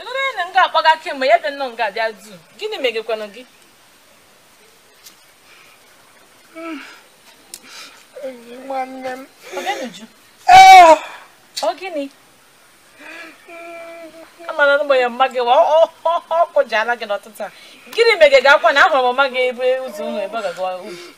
ịnụrụ ya na nga akpọga kemgbe ya bịa nnọọ nga abịa du gịnị megekwanụ gị enyi nwanne m ọbịanuju ee ọ gịnị amara na ụgbọnya mma gị wa ọ- ọ- ọ- ọ kụjala gị n'ọtụtụ a gịnị mege gị akwa na ahụrụ m mma gị ebe ụzọ ụlọ ebe ọ gaga uru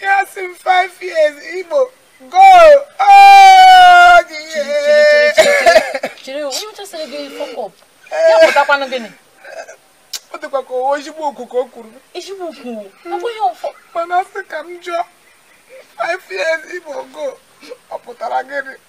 Yes, in five years, Igbo, go! Oh, yeah! Chere, onye ọcha sịrị gị fuck up? Ya pụtakwanụ gịnị? Ọ dịkwa ka ọ wụ ezigbo okwu ka o kwuru. Ezigbo okwu? Ọ bụghị ọfọ. Mana sị ka m jụọ, five years, Igbo, go! Ọ pụtara gịnị?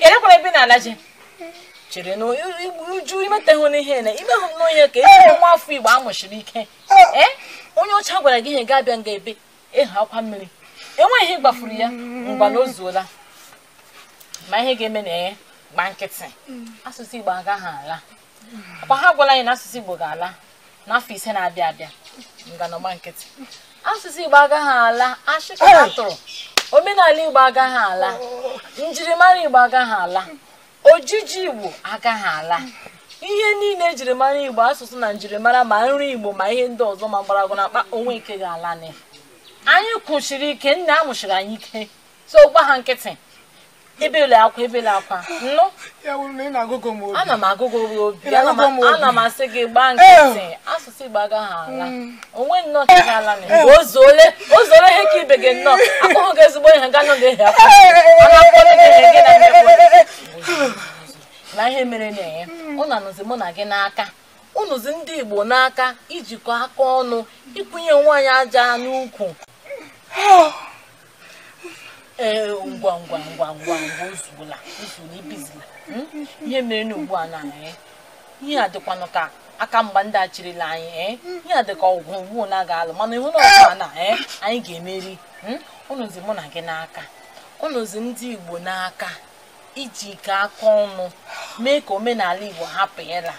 elekwara ebe na-alaje chere na uju imeteghị n'ihe na imehụ n'ihe ka ezi nwa afọ igbo amụsiri ike ee onye ọcha gwara gị ihe ga-abịa nga ebe ịhụ akwa mmiri enweghị ihe gbafuru ya ngwa na o zuola ma ihe ga-eme na ya gba nkịtị asụsụ igbo agaghị ala ọkwa ha gwara anyị na asụsụ Igbo ga-ala n'afọ ise na-abịa abịa ngwanụ gba nkịtị asụsụ Igbo agaghị ala ashị ka ha tụrụ omenala Igbo agaghị ala njirimara Igbo agaghị ala ojiji Igbo agaghị ala ihe niile ejiri mara Igbo asụsụ na njirimara ma nri Igbo ma ihe ndị ọzọ ma mgbọrọgwụ na mkpa onwe nke ga-ala anyị kwụsiri ike nna amụsiri anyị ike so gba ha nkịtị ebele akwa ebele akwa ị nụ ana m agụgụ gị obi ana m asị gị gbaa nkịtị eh. asụsụ igbo agaghị ala hmm. onwe nnọọ ka ga-ala na eh. ozuole ozuole ihe ka ibe gị nnọọ akpọghị gị ezigbo ihe ga nọ na-ehi akwa ana akpọrọ gị ihe gị na mmekpọ na ihe mere na-enye hmm. ọ na-anọzi mụ na gị n'aka ọ nọzi ndị igbo n'aka ijikọ aka ọnụ ịkwụnye onwe anyị aja n'ukwu oh. ee ngwa ngwa ngwa ngwa ngwa ozuola ozuola ebezila hmm? ihe mere na ugbu a na anyị eh? ihe a dịkwanụ ka aka mgba ndị a cherela anyị ee eh? ihe a dịka ọgụ ugbu na a ga-alụ mana ịhụ na ọgụ a na eh? anyị ga-emeri hmm? ọ nọzi mụ na gị n'aka ọ nọzi ndị Igbo n'aka ijikọ aka ọnụ mee ka omenala Igbo hapụ ịla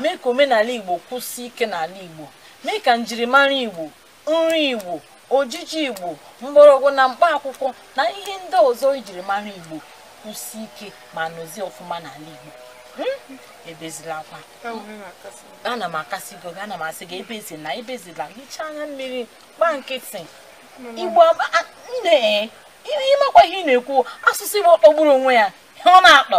mee ka omenala Igbo kwụsị ike n'ala Igbo mee ka njirimara Igbo nri Igbo ojiji Igbo mgbọrọgwụ na mkpa akwụkwọ na ihe ndị ọzọ ejiri mara Igbo kwụsị ike ma nọzie ọfụma n'ala Igbo hmm? ebezila akwa ana m akasị gị obi ana m asị gị ebezila ebezila hichaa anya mmiri gba nkịtị Igbo nne ịmakwa ihe ị na-ekwu asụsụ Igbo kpọgburu onwe ya ihe ọ na-akpọ